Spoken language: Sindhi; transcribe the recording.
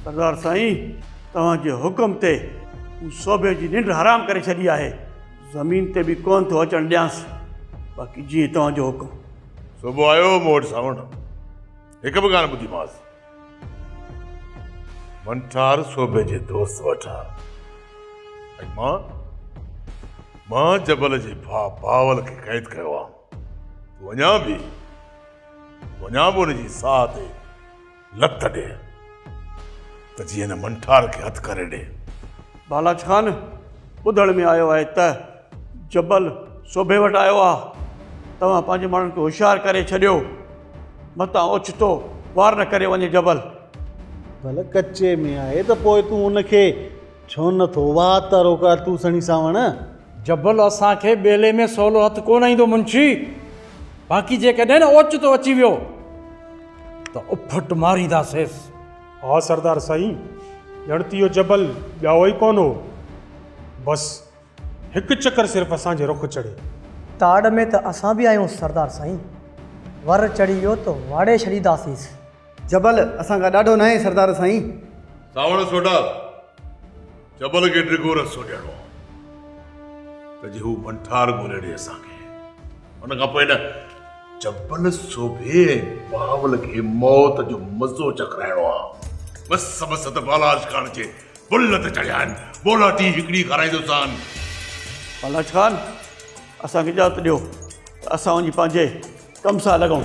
سردار سائين توهان جي حڪم تي مون صوڀي جي ننڊ حرام ڪري ڇڏي آهي زمين تي به ڪونه ٿو اچڻ ڏيانس باقي جيئن توهان جو حڪم صوڀو آيو مون وٽ ساوڻ هڪ به ڳالهه ٻڌي ماس منٺار صوبي جي دوست وٺا ماں ماں جبل جي ڀا باول کي قيد ڪيو آ تو اڃا به تو اڃا به ان جي ساهه تي لت ڏي ته جي هن منٺار کي هٿ ڪري ڏي. بالاچ خان، ٻڌڻ ۾ آيو آهي ته جبل سوڀي وٽ آيو آهي. توهان پنهنجي ماڻهن کي هوشيار ڪري ڇڏيو. متان اوچتو وار نه ڪري وڃي جبل. ڀل ڪچي ۾ آهي ته پوء تون ان کي. ڇو نه ٿو، واهه ته روڪار تون سھڻي سانوڻ. جبل اسان کي ٻيلي ۾ سولو هٿ ڪونه ايندو منشي، باقي جيڪڏهن اوچتو اچي ويو ته اڦٽ مارينداسينس. ها سردار سائين، ڄڻ ته اهو جبل ڄائو ئي ڪونه هو، بس هڪ چڪر صرف اسان جي رخ چڙهي. تاڙ ۾ ته اسان به آهيون سردار سائين، ور چڙهي ويو ته واڙي ڇڏينداسينس. جبل، اسان کان ڏاڍو ناهي سردار سائين. سانوڻ سوڍا، جبل کي ڊگهو رستو ڏيڻو آ ته جي هو ڀنٺار ڳولي ڏي اسان کي. ان کان پوء نه جبل سوڀي ۽ بهاول کي موت جو مزو چکرائڻو آ. بس سڀ سڌ بالاچ خان جي بل تي چڙهيا آهن. بولاٽي هڪڙي کارائيندوسان. بالاچ خان، اسان کي اجازت ڏيو ته اسان وڃي پنهنجي ڪم سان لڳون.